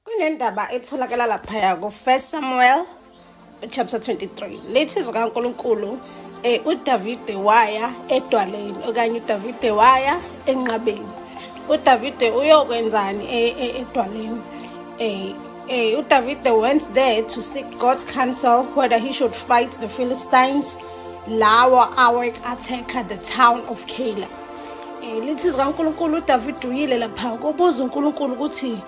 kunendaba etholakala laphaya ku-first samuel chapter 23 lethi izwi kankulunkulu um eh, udavide waya edwaleni okanye udavide waya enqabeni udavide uyokwenzani e, e, edwaleni um um udavide went there to seek god's counsel whether he should fight the philistines lawa awek-attacker the town of caleb um lithi zikankulunkulu udavide uyile lapha kobuza unkulunkulu ukuthi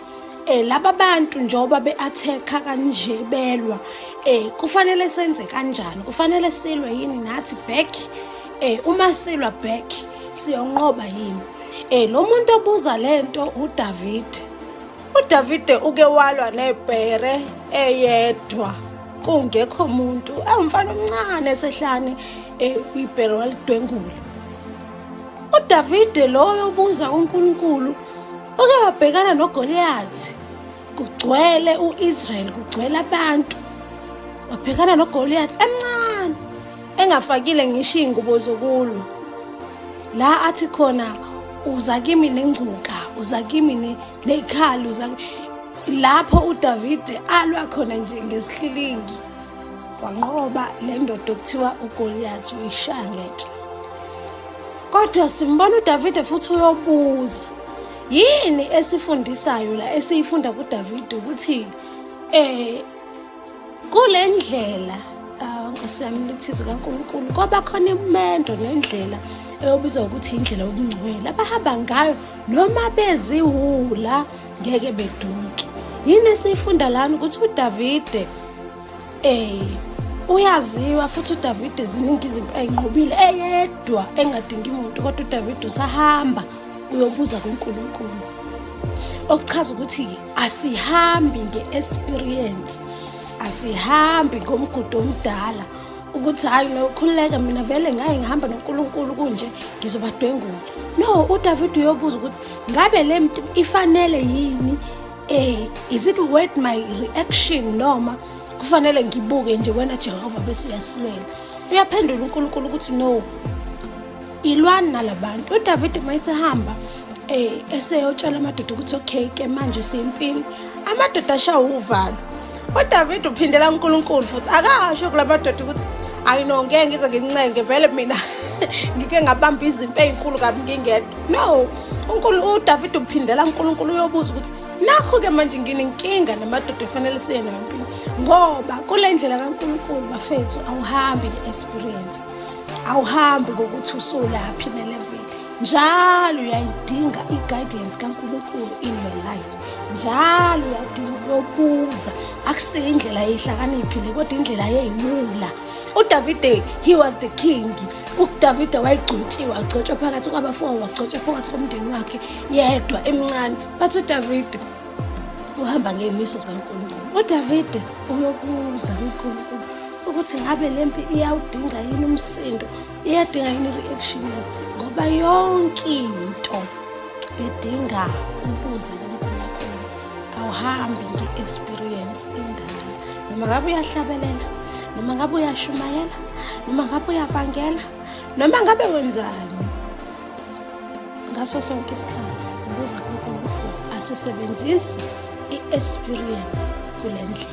um laba bantu njengoba be-athekha kanje belwa um kufanele senze kanjani kufanele silwe yini nathi back um uma silwa back siyonqoba yini um lo muntu obuza le nto udavide udavide uke walwa nebhere eyedwa kungekho muntu awumfana omncane esehlane um ibhere walidwengula UDavide loyo ubuza kuNkulunkulu oke wabhekana noGoliyathi. Kugcwele u-Israyeli, kugcwele abantu. Wabhekana noGoliyathi emncane engafakile ngisho iy'ngubo zokulwa. La athi khona uza kimi nengcuka, uza kimi nekhali, uza lapho uDavide alwa khona nje ngesihlilingi. wanqoba le ndoda okuthiwa ugoliyathi uyishangetshe kodwa simbona udavide futhi uyobuza yini esifundisayo la esiyifunda kudavide ukuthi um kule ndlela ah, nkosi yami lithizwe kankulunkulu koba khona imendo nendlela eyobizwa ukuthi indlela yobungcwele abahamba ngayo noma beziwula ngeke beduke yini esiyifunda lana ukuthi udavide um uyaziwa futhi udavide ziningi izinto ayinqobile eyedwa engadingi muntu kodwa udavide usahamba uyobuza kunkulunkulu okuchaza ukuthi asihambi nge-experience asihambi ngomgudu omdala ukuthi hhayi nokhululeka mina vele ngaye ngihamba nonkulunkulu kunje ngizobadwengula no udavide uyobuza ukuthi ngabe le mntu ifanele yini um is it worth my reaction noma kufanele ngibuke nje wena jehova bese uyasilwela uyaphendula unkulunkulu ukuthi no ilwani nalabantu udavide uma esehamba um eseyotshela amadoda ukuthi okay ke manje sempini amadoda ashawa uvalo udavide uphindela unkulunkulu futhi akasho kula madoda ukuthi ayi no ngeke ngize ngincenge vele mina ngike ngabamba izimpi ey'nkulu kabi ngingedwa no unkulu udavide uphindela unkulunkulu uyobuza ukuthi nakho-ke manje nginenkinga namadoda efanele siye nayo empini ngoba kule ndlela kankulunkulu bafethu awuhambi nge-esperience awuhambi ngokuthi usulaphi neleveli njalo uyayidinga i-guidance kankulunkulu in your life njalo uyadinga ukuyobuza akusiyo indlela yehlakaniphi le kodwa indlela yeyiwula udavide he was the king udavide wayegcotshiwe agcotshwa phakathi kwabafowabo wagcotshwa phakathi komndeni wakhe yedwa emncane bathi udavide uhamba ngeyimiso zikankulunkulu udavide uyokuza unkulunkulu ukuthi ngabe le mpi iyawudinga yini umsindo iyadinga yini i-reaction yakho ngoba yonke into edinga ukuza kunkulunkulu awuhambi nge-experience endala noma ngabe uyahlabelela noma ngabe uyashumayela noma ngabe uyavangela noma ngabe wenzani ngaso sonke isikhathi ukuza kunkulunkulu asisebenzisi i-experience kule ndlela